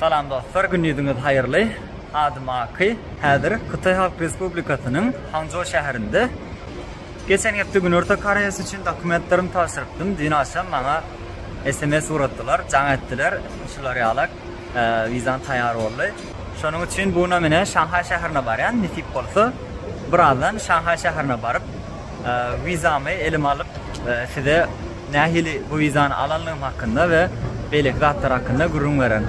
Salam dostlar, gündiziňiz haýyrly. Adym Aky. Häzir Hytaý Halk Respublikasynyň Hangjo şäherinde. Geçen hepde Günorta Koreýasy üçin dokumentlerimi tabşyrypdym. Düýn agşam maňa sms ugrutdylar, jaň etdiler. Şular ýalak, wizam taýýar boldy. Şonuň üçin bu günam ine Şanhaý şäherine barýan. Nesip bolsa, birazdan Şanhaý şäherine baryp, Wizamy elime alyp, size nähili bu wizany alandygym hakynda we beýleki zatlar hakynda gürrüň bererin.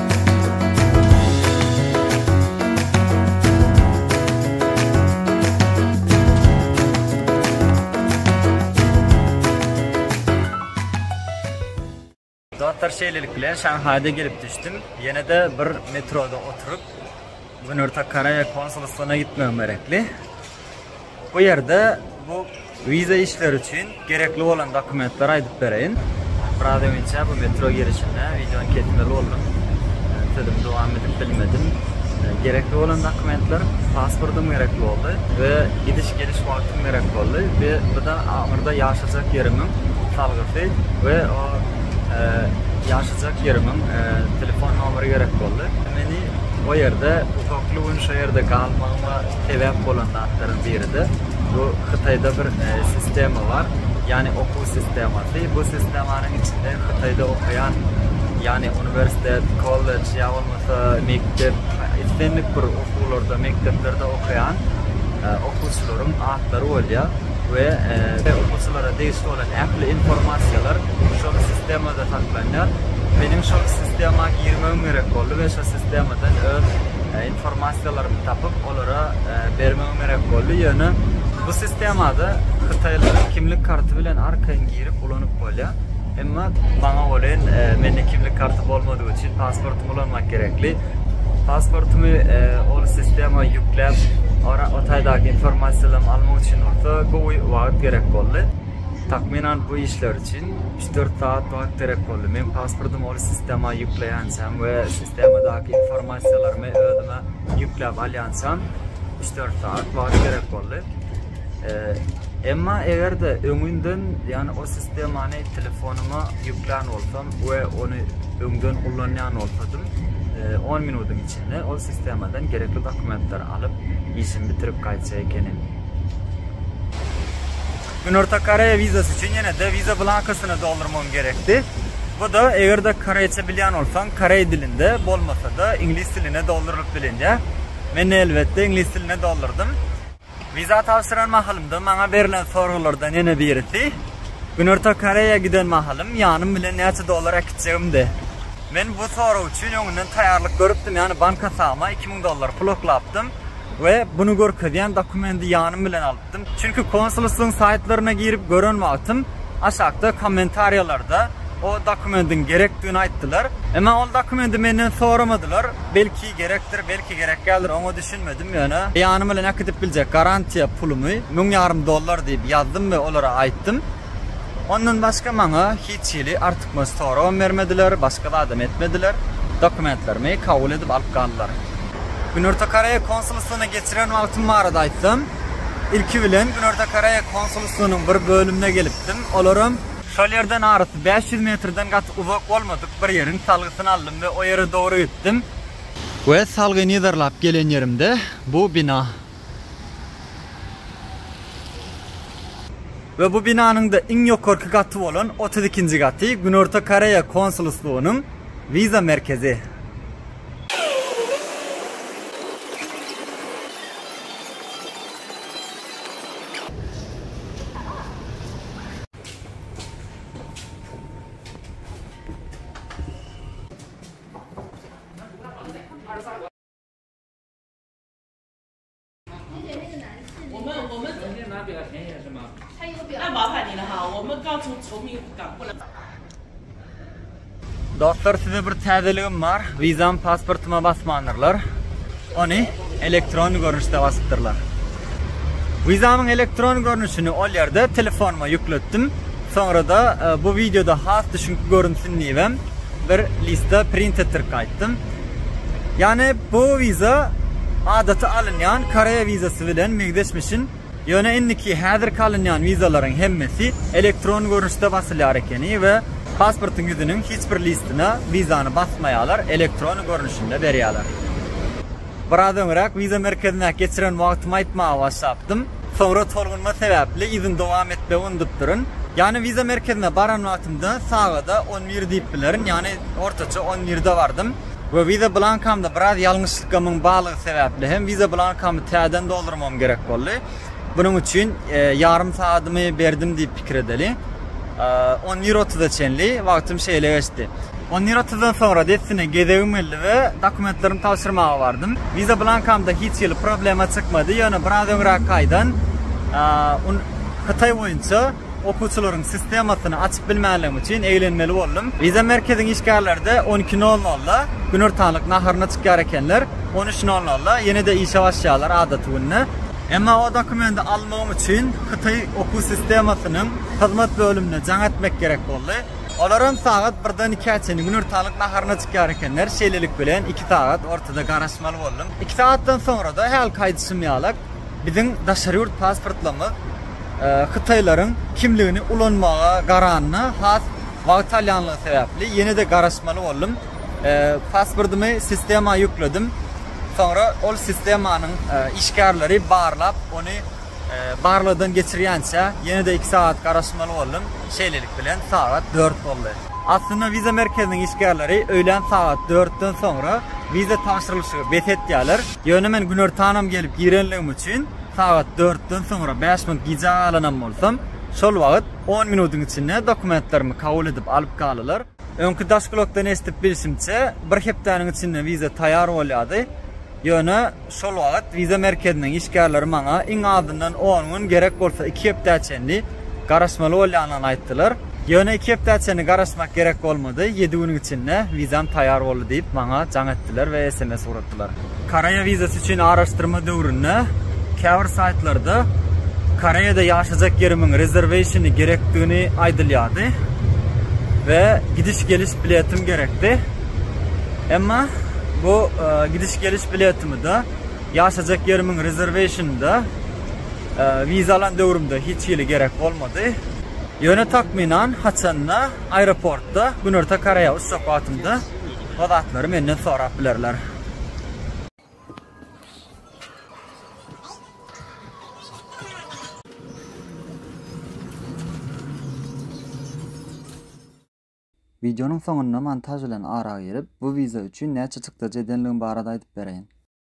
Dostlar şeýlelik bilen Şanhaýda gelip düşdüm. Ýene-de bir metroda oturyp Günorta Koreýa konsulstwona gitmegim gerekli. Bu ýerde bu wiza işleri üçin gerekli bolan dokumentleri aýdyp bereýin. Biraz öňinçe bu metro girişinde wideony kesmeli boldum. Sözüm dowam edip bilmedim. Gerekli bolan dokumentler pasportym gerekli boldy we gidiş geliş wagtym gerek boldy we bu da aňyrda ýaşajak ýerimiň salgysy we o e, ýaşajak ýerimiň e, telefon nomeri gerek boldy. Meni o ýerde uzakly gün şo ýerde galmagyma sebäp bolan zatlaryň biri-de bu Hytaýda bir e, sistema bar. Ýani okuw sistemasy. Bu sistemanyň içinde Hytaýda okaýan ýani uniwersitet, kollej ýa bolmasa mekdep, islendik bir okuwlarda, mekdeplerde okaýan e, okuwçylaryň atlary bolýar we e, okuwçylara degişli bolan ähli informasiýalar şol sistemada saklanýar. Meniň şol sistema girmegim gerek boldy we şol sistemadan öz e, informasiýalarymy tapyp, olara e, bermegim gerek boldy. Ýöne bu sistemada hytaýlaryň kimlik karty bilen arkaýyn girip ulanyp bolýar. Emma maňa welin e, mende kimlik karty bolmadygy üçin pasportymy ulanmak gerekli. Pasportymy e, ol sistema ýükläp, ora o taýdaky informasiýalary almak üçin bolsa gowy wagt gerek boldy. Takmynan bu işler üçin dört sagat wagt gerek boldy. Men pasportymy ol sistema ýükleýänçäm we sistemadaky informasiýalarymy özüme ýükläp alýançam üç dört sagat wagt gerek boldy. Emma eger-de öňünden, ýagny o sistemany telefonyma ýüklän bolsam we ony öňden ullanýan bolsadym, e, on minutyň içinde ol sistemadan gerekli dokumentleri alyp, işimi bitirip gaýtjak ekenim. Günorta Koreýa wizasy üçin ýene-de wiza blankasyny doldurmagyň gerekdi. Bu-da, eger-de koreýçe bilýän bolsaň, koreý dilinde, bolmasa-da, iňlis diline doldurylyp bilinýär. Men, elbetde, iňlis diline doldurdym. Wiza tabşyran mahalymda maňa berlen soraglardan ýene birisi, Günorta Koreýa giden mahalym ýanym bilen näçe dollar äkitjegimdi. Men bu sorag üçin öňünden taýýarlyk görüpdim, ýagny bank hasabyma iki müň dollar pul oklapdym we buny görkezýän dokumendi ýanym bilen alypdym. Çünki konsulstwyň saýtlaryna girip gören wagtym aşakda kommentariýalarda o dokumendiň gerekdigini aýtdylar. Emma ol dokumendi menden soramadylar. Belki gerekdir, belki gerek däldir, oňa düşünmedim. Ýöne ýanym bilen äkidip biljek garantiýa pulumy, müň ýarym dollar diýip ýazdym we olara aýtdym. Ondan başga maňa hiç hili artykmaç soragam bermediler, başga zadam etmediler, dokumentlerimi kabul edip alyp galdylar. Günorta Koreýa konsulstwyna geçiren wagtym barada aýtsam, ilki bilen Günorta Koreýa konsulstwynyň bir bölümine gelipdim, olaram. Şol ýerden arasy bäş ýüz metrden gaty uzak bolmadyk bir ýeriň salgysyny aldym we o ýere dogry gitdim. We salgy nizarlap gelen ýerimde bu bina. we bu binanyň-da iň ýokarky gaty bolan otuz ikinji gaty Günorta Koreýa konsulstwonyň wiza merkezi. Dostlar size bir täzeligim bar. Vizam pasportyma basmandyrlar. Ony elektron görnüşde basypdyrlar. Vizamyň elektron görnüşini ol ýerde telefonuma ýükletdim. Soňra da e, bu wideoda has düşünki görünsin diýibem bir lista print etdirip gaýtdym. Ýagny bu wiza adaty alynýan Koreýa wizasy bilen meňzeşmişin, ýöne indiki häzirki alynýan wizalaryň hemmesi elektron görnüşde basylýar ekeni we pasportyň ýüzüniň hiç bir listine wizany basmaýarlar, elektrony görnüşinde berýärler. Biraz öňräk wiza merkezindäki geçiren wagtymy aýtmaga başlapdym. Soňra tolgunma sebäpli yzyny dowam etmegi unudupdyryn. Ýany wiza merkezine baran wagtymda sagada on bir diýip bilerin, ýany ortaça on birde bardym we wiza blankamda biraz ýalňyşlykgamyň barlygy sebäpli hem wiza blankamy täzeden doldurmagym gerek boldy. Bunuň üçin ýarym sagadymy berdim diýip pikir edeli. On bir otuza çenli wagtym şeýle geçdi. On minutdan soňra dessine gezegim geldi we dokumentlerimi tabşyrmaga bardym. Wiza blankamda hiç hili problema çykmady, ýöne biraz öňräk taýdan Hytaý boýunça okuwçylaryň sistemasyny açyp bilmänligim üçin eglenmeli boldum. Wiza merkeziň işgärleri-de on iki nol nolda günortanlyk naharyna çykýar ekenler, on üç nol nolda ýene-de işe başlaýarlar adaty günde. Emma o dokumenti almagym üçin Hytaý okuw sistemasynyň hyzmat bölümine jaň etmek gerek boldy. Olaram sagat birden ikä çenli günortanlyk naharyna çykýar ekenler, şeýlelik bilen iki sagat ortada garaşmaly boldum. Iki sagatdan soňra-da, hälki aýdyşym ýalak, biziň daşary ýurt pasportlarymyz hytaýlaryň kimligini ulanmaga garanyna has wagt alýanlygy sebäpli, ýene-de garaşmaly boldum. Pasportymy sistema ýükledim, soňra ol sistemanyň işgärleri barlap, ony Barlagdan geçirýänçä, ýene-de iki sagat garaşmaly boldum. Şeýlelik bilen, sagat dört boldy. Aslynda wiza merkeziniň işgärleri öýlän sagat dörtden soňra wiza tabşyrylyşygy bes etýärler. Ýöne men günortanam gelip girenligim üçin, sagat dörtden soňra bäş minut gijä galanam bolsam, şol wagt on minutyň içinde dokumentlerimi kabul edip alyp galdylar. Öňki Daşpilotdan eşidip bilşimçe, bir hepdäniň içinde wiza taýýar bolýardy. Ýöne şol wagt wiza merkeziniň işgärleri maňa iň azyndan on gün, gerek bolsa iki hepdä çenli garaşmaly bolýanyny aýtdylar. Ýöne iki hepdä çenli garaşmak gerek bolmady, ýedi günüň içinde wizam taýýar boldy diýip, maňa jaň etdiler we sms urdular. ýazypdylar. Koreýa wizasy üçin araşdyrma döwründe käbir saýtlarda Koreýada ýaşajak ýerimiň rezerweýşini gerekdigini aýdylýardy we gidiş-geliş biletim gerekdi. Emma bu gidiş-geliş biletimi-de, ýaşajak ýerimiň rezerweýşini-de wiza alan döwrümde hiç hili gerek bolmady. Ýöne takmynan haçanda aeroportda Günorta Koreýa uçjak wagtymda Bu zatlary menden sorap bilerler. Wideonyň soňunda montaž bilen ara girip, bu wiza üçin näçe çykdajy edenligim barada aýdyp bereýin.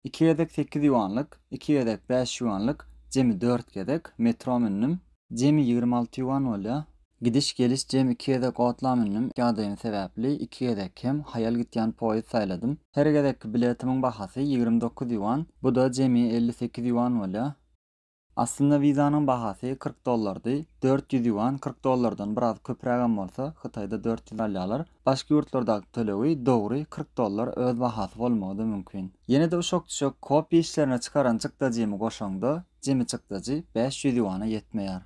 Iki gezek sekiz ýuanlyk, iki gezek bäş ýuanlyk, jemi dört gezek, metro mündüm. Jemi ýigrimi alty ýuan bolýar. Gidiş-geliş jemi iki gezek otla mündüm, ýagdaýym sebäpli, iki gezek hem haýal gitýän poýezd saýladym. Her gezekki biletimiň bahasy ýigrimi dokuz ýuan, bu-da jemi elli sekiz ýuan bolýar. Aslynda wizanyň bahasy kyrk dollardy, dört ýüz ýuan, kyrk dollardan biraz köprägem bolsa, Hytaýda dört ýüz alýarlar. Başga ýurtlardaky tölegi, dogry, kyrk dollar öz bahasy bolmagy-da mümkin. Ýene-de uşak-düşek kopiýa işlerine çykaran çykdajymy goşaňda, jemi çykdajy bäş ýüz ýuana ýetmeýär.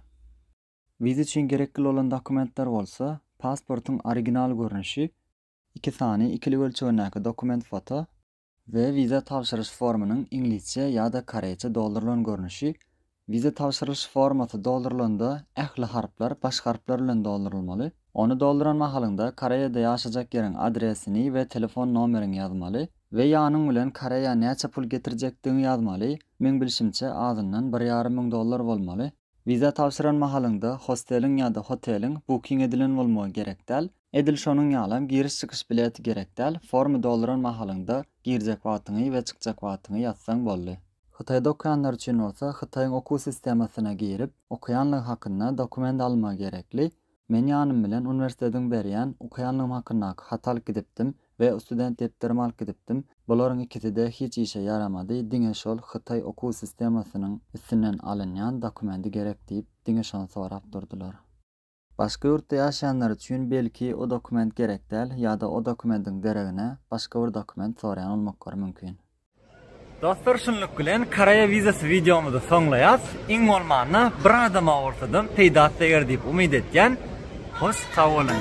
Wiza üçin gerekli bolan dokumentler bolsa, pasportyň original görnüşi, iki sany ikilik ölçegindäki dokument-foto, we wiza tabşyryş formunyň iňlisçe ýa-da koreýçe doldurylan görnüşi, wiza tabşyrylyş formasy doldurylanda ähli harplar baş harplar bilen doldurylmaly, ony dolduran mahalyňda Koreýada ýaşajak ýeriň adresini we telefon nomeriňi ýazmaly we ýanyň bilen Koreýa näçe pul getirjekdigiňi ýazmaly, meň bilşimçe azyndan bir ýarym müň dollar bolmaly. Wiza tabşyran mahalyňda hosteliň ýa-da hoteliň booking edilen bolmagy gerek däl, Edil şonuň ýalam giriş-çykyş bileti gerek däl, formy dolduran mahalyňda girjek wagtyňy we çykjak wagtyňy ýazsaň boldy. Hytaýda okaýanlar üçin bolsa Hytaýyň okuw sistemasyna girip, okaýanlygy hakynda dokument alma gerekli. Men ýanym bilen uniwersitetiň berýän okaýanlygym hakyndaky haty alyp gidipdim we student depderimi alyp gidipdim, bularyň ikisi-de hiç işe ýaramady, diňe şol Hytaý okuw sistemasynyň üstünden alynýan dokumendi gerek diýip, diňe şony sorap durdular. Başga ýurtda ýaşaýanlar üçin belki o dokument gerek däl ýa-da o dokumentiň deregine başga bir dokument soraýan bolmaklary mümkin. Dostlar şunluk bilen Koreýa wizasy wideomyzy soňlaýas. Iň bolmanda bir adama bolsadam peýdasy deger diýip umyt etýän. Hoş sag boluň.